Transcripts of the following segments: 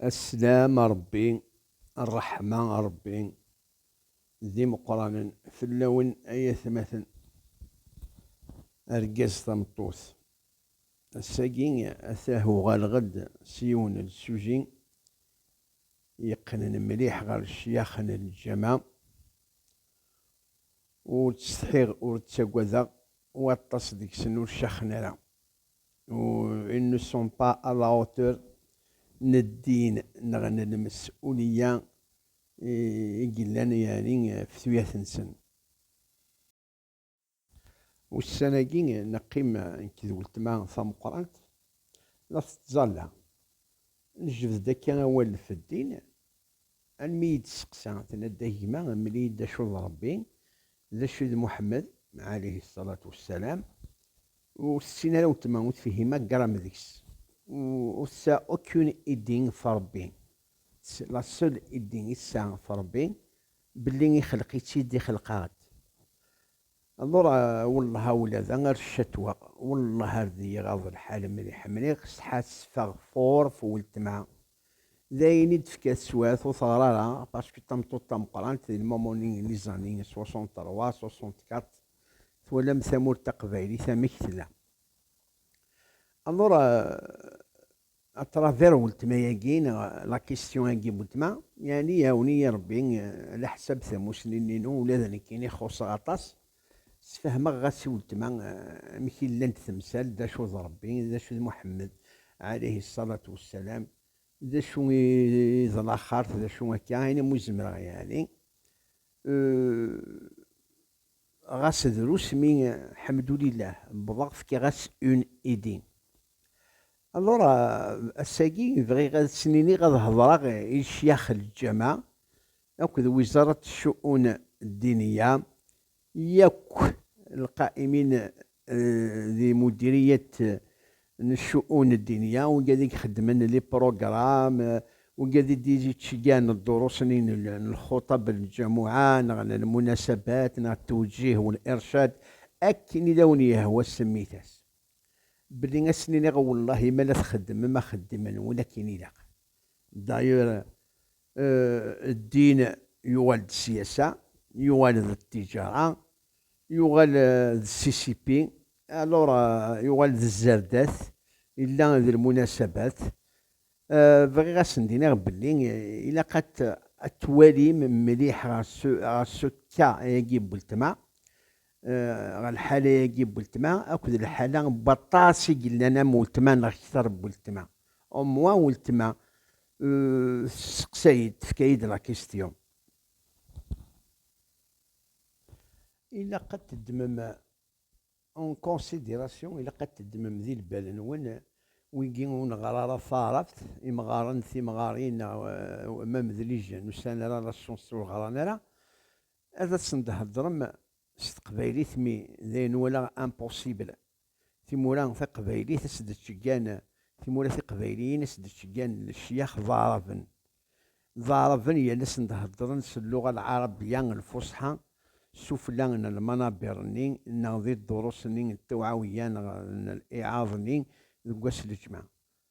Aslam a Ṛebbi, ṛṛeḥma a Ṛebbi, d imeqqranen fell-awen ay atmaten, argaz tameṭṭut. Ass-agi atah uɣaleɣ-d s yiwen n lsuji yeqqnen mliḥ ɣer ccyax n lǧama, ur ttsetḥiɣ ur ttagadeɣ, waṭas deg-sen ur caxen ara. Ils ne sont pas à la hauteur n ddin neɣ n lmesuliyya i yellan yeɛni ɣef tuyat-nsen. Ussan-agi neqqim nekk d weltma tameqqrant la tettẓalla. Nejbed-d akka awal ɣef ddin Almi iyi-d-testeqsa, tenna-d, A gma, mel-iyi-d d acu d Ṛebbi, d acu d Muḥemmed, ɛaleyhi ṣṣalatu wassalam. Ur tessin ara weltma, ur tefhima gram deg-s. Ur tsa aucune idée ɣef Ṛebbi. La seule idée i tesɛa ɣef Ṛebbi, belli ixelq-itt-id, ixelq-aɣ-d. Alor, wellah ula d ar ccetweɣ, wellah ar d-iyi-ɣaḍ lḥal mliḥ mliɣ, setḥa tessefeɣ fort weltma, D ayen i d-tefka teswiɛt ur teɣri ara, packu tameṭṭut tameqqrant di lmamoni n iẓanen, 63, 64, twalam tamurt taqbaylit amek tella. Alors, à travers weltma-agi, neɣ la question-agi n weltma, yeɛni iɛawen-iyi Rebbi, alaḥsab tamusni-nni-inu ula d nekkini xuṣṣeɣ aṭas, Sfehmeɣ ɣas i weltma amek i llant temsal d acu d Rebbi, d acu d Muḥemmed, ɛaleyhi ṣṣalatu wassalam, d acu i d laxert, d acu akka, ayen umi zemreɣ yeɛni. Ɣas drus mi, ḥemdulillah, wwḍeɣ fkiɣ-as une idée. Alors, ass-agi bɣiɣ ad sen-iniɣ ad hedreɣ i ccyax Lǧama, akked Wizarat Ccu'un Ddiniya, yakk lqa'imin di Mudiriyat n Ccu'un Ddiniya, wigi i ixeddmen les programmes, wigi i d-yettceggiɛen ddurus-nni n lxuṭab n lǧamuɛa neɣ n lmunasabat neɣ ttewǧih u lircad, akken i awen-yehwa semmit-as, belli ad sen-iniɣ wellahi ma la txeddmem axeddim-nwen akken ilaq, d'ailleurs ddin yuɣal d siyasa, yuɣal d ttiǧara, yuɣal d ssisipi, alors yuɣal d zzerdat, illa d lmunasabat, bɣiɣ a sen-d-iniɣ belli ilaq a t-twalim mliḥ ɣer ce cas-agi n weltma, ɣer lḥala-agi n weltma akked lḥala n waṭas i yellan am weltma neɣ kter n weltma, au moins weltma Euh, tesseqsay-d, tefka-yi-d la question. Ilaq ad teddmem en considération, ilaq ad teddmem di lbal-nwen wigi ur neɣra ara taɛrabt, imɣaren, timɣarin, neɣ euh, ma medlijen, ur sɛin ara la chance ur ɣran ara, ad asen-d-heddrem s teqbaylit mi d ayen walaɣ impossible. Timura taqbaylit as d-ttggan timura tiqbayliyin as d-ttggan lecyax d aɛraben. D aɛraben yal ass n d-heddren s lluɣa lɛarabya lfusḥa sufella n lmanabir-nni neɣ di ddurus-nni n tewɛawya neɣ n liɛraḍ-nni deg wass lǧemɛa.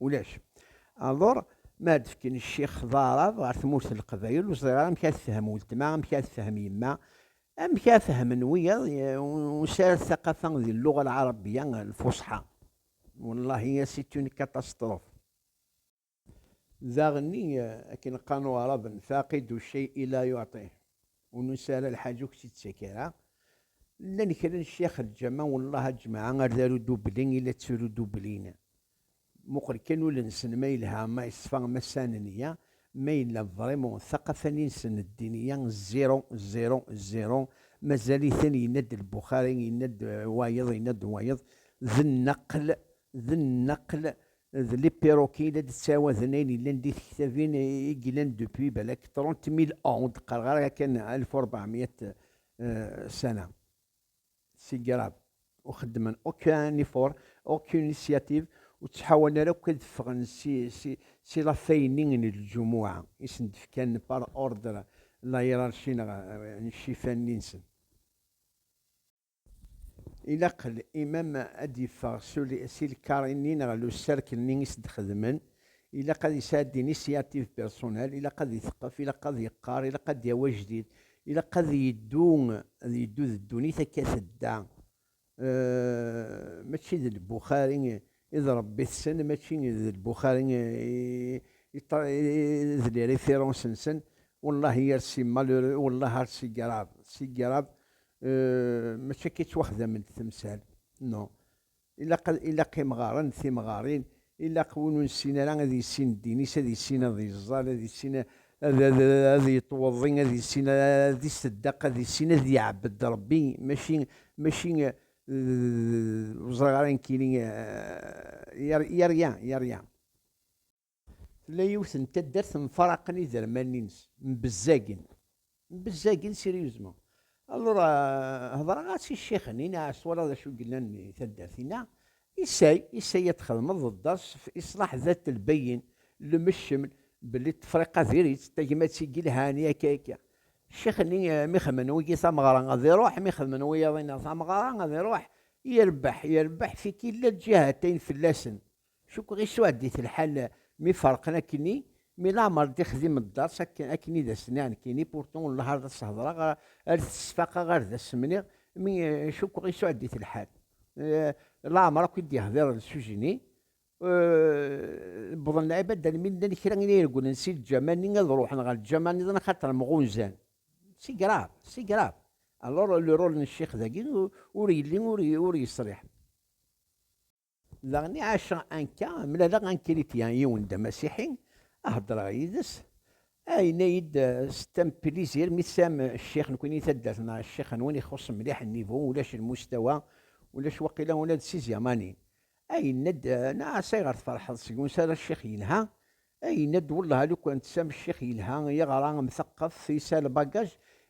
Ulac. Alor, mi ara d-fken ccix d aɛrab ɣer tmurt n leqbayel, ur ẓriɣ ara amek ara tefhem weltma, amek ara tefhem yemma, amek ara fehmen wiyaḍ unsarad taqafa di lluɣa lɛarabbya lfuṣḥa. Wallahi, c'est une catastrophe. Daɣenni, akken qqaren uɛraben, faqid ucceyi la yuɛṭih, ur nunsi ara lḥaǧa ur k-tt-id-tettak ara. Llan kra n ccix lǧameɛ, wallahi a ǧǧmaɛ, ar d aru dubbli i la tturu dubblin. Muqel kan ul-nsen ma yelha, ma yeṣfa, ma sɛan neyya, ma yella ḍrimu, taqafanin-nsen n ddin-ya zero, zero, zero, mazal-iten, yenna-d Lbuxari, yenna-d wayeḍ, yenna-d wayeḍ, d nnaqel, d nnaqel, d les perroquets i la d-ttɛawaden ayen yellan di tektabin i yellan depuis balak trente mille ans, ur d-qqareɣ ara yakan alef u ṛebɛemya ssana. Tsegrab ur xeddmen aucun effort, aucune initiative, ur ttḥawan ara akk ad ffɣen si lafay-nni n ljumuɛ i sen-d-fkan par ordre la hiérarchie neɣ n ccifan-nni-nsen. Ilaq l'imam ad d-yeffeɣ si lkar-nni neɣ le cercle-nni i s-d-xedmen, ilaq ad yesɛeddi initiative personnelle, ilaq ad iteqqef, ilaq ad yeqqar, ilaq ad d-yawi ajdid, Ilaq ad yeddu ad yeddu d ddunit akka tedda, mačči d Lbuxari i d Ṛebbi-tsen, mačči d Lbuxari i d les références-nsen, wellah yir si malheureux wellah ar si grave, si grave, mačči akka i ttwaxdament temsal, non. Ilaq, ilaq imɣaren d timɣarin, ilaq win ur nessin ara ad yessin ddin-is, ad yessin ad yeẓẓal, ad yessin ad ad yettweḍḍi, ad yessin ad iṣeddaq, ad yessin ad iɛebbed Ṛebbi, mačči, mačči d, ur ẓriɣ ara nekkini, yerya, yerya. Tella yiwet n taddart mfaraqen iderman-ines, mbezzagen, mbezzagen sérieusement. Alors, hedreɣ-as i ccix-nni, neɛ twalaḍ acu yellan di taddart-inna, isay, isay ad txedmeḍ d ders fi iṣlaḥ dat lbayin, le mecml, belli Tefriqa diri-tt, tagmat i yelhan, yakka yakka. Ccix-nni mi xedmen wigi tameɣra ad iruḥ, mi xedmen wiyaḍ-inna tameɣra ad iruḥ, irebbeḥ, irebbeḥ, fik illa lǧihat ayen fell-asen, Cukkeɣ isuɛed-it lḥal mi ferqen akkenni, mi laɛmer d-ixdim dderc akken akken i d as-nniɣ nekkini, pourtant ur nlehha ara ad s-hedreɣ, ar t-sfaqeɣ ar d as-mniɣ, mi cukkeɣ isuɛed-it lḥal, laɛmer akk i d-yehdiren s ujenni, wwḍen lɛibad almi llan kra n yiregglen si lǧama-nni ad ruḥen ɣer lǧama niḍen axaṭer mɣunzan. C'est grave, c'est grave! Alors le rôle n ccix dagi ur yelli ur yesriḥ. Daɣen i ɛaceɣ anka, mlaleɣ ankrityen, yiwen d amasiḥi, a heddreɣ yid-s, a yenna-yi-d c'est un plaisir mi tesɛam ccix nekni taddart neɣ ccix nwen ixuṣṣ mliḥ nnivu, ulac lmustawa, ulac waqila ula d tiẓyamanin. A yenna-d, Naas ayɣer tferḥeḍ seg wansi ara ccix yelha, A yenna-d wellah lukan tesɛam ccix yelha i aɣra amteqqef yesɛa lbagaj,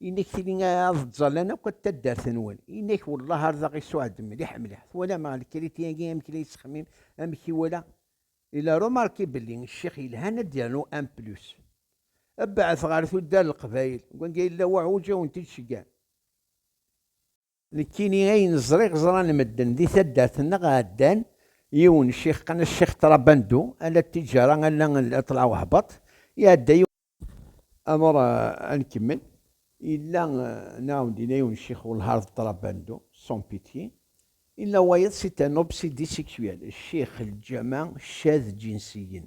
yenna-k tili ad ẓẓallan akk at taddart-nwen, yenna-k wellah ar daɣ isuɛed mliḥ mliḥ, twalam ɣer lekriti-agi amek la yettxemmim, amek iwala, il a remarqué belli ccix yelhan ad d-yernu un plus. Bɛet ɣer tuddar n leqbayel, deg wanga yella uɛuǧ a wen-t-id-ceggan. Nekkini ayen ẓriɣ ẓran medden di taddart nneɣ ɛeddan yiwen ccix qqan as ccix Trabandou ala ttijara ala ṭṭleɛ wehbaṭ iɛedda yiwen. Amur a nkemmel yella nɛawen dinna yiwen ccix welhar d Trabandou sans pitié yella wayeḍ c'est un obsédé sexuel ccix lǧama cad djinsiyen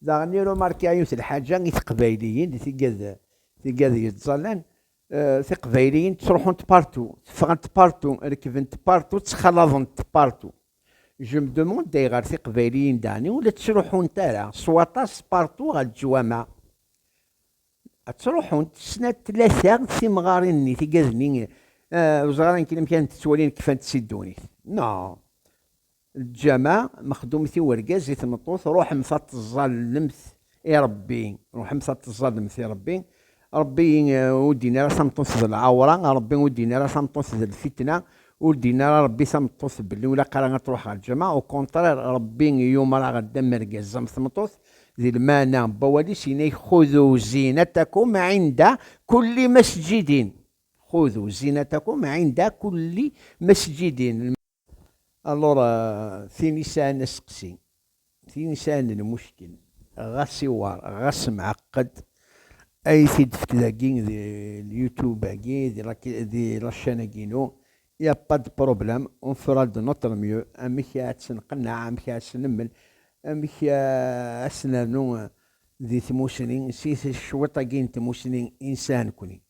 Daɣen irumarka yiwet lḥaǧa i teqbayliyin di tiggad tiggad yettẓallan, tiqbayliyin ttruḥunt partu, teffɣent partu, rekbent partu, ttxalaḍent partu. J'aime demande ayɣer tiqbayliyin daɣen ur la ttruḥunt ara s waṭas partu ɣer leǧwameɛ? Ttruḥunt snat tlata timɣarin-nni, tiggad-nni, ur ẓriɣ ara nekni amek ara tent-ttwalin kfant si ddunit. Non! Lǧameɛ, mexdumet i urgaz, i tmeṭṭut, ruḥemt ad teẓẓallemt i Ṛebbi, ruḥemt ad teẓẓallemt i Ṛebbi. Ṛebbi ur d-yenni ara tameṭṭut d lɛewṛa, Ṛebbi ur d-yenni ara tameṭṭut d lfitna, ur d-yenni ara Ṛebbi tameṭṭut belli ur ilaq ara ad tṛuḥ ɣer lǧameɛ, ukunṭṛir Ṛebbi yumeṛ-aɣ-d am rgaz am tmeṭṭut, di lmeɛna n wawal-is yenna-ak xudu zinatakum inda kulli masǧidin, xudu zinatakum inda kulli masǧidin. Alors tin i sɛan aseqsi, tin i sɛan lmuckel, ɣas iwar, ɣas mɛeqqed, ay t-id-fek dagi di l-youtube-agi, di la chaîne-agi-inu, il n'y a pas de problème, on fera de notre mieux, amek ara tt-nqenneɛ, amek ara tt-nemmel, amek ara tt-nernu di tmusni, si cwiṭ-agi n tmusni i nesɛa nekni.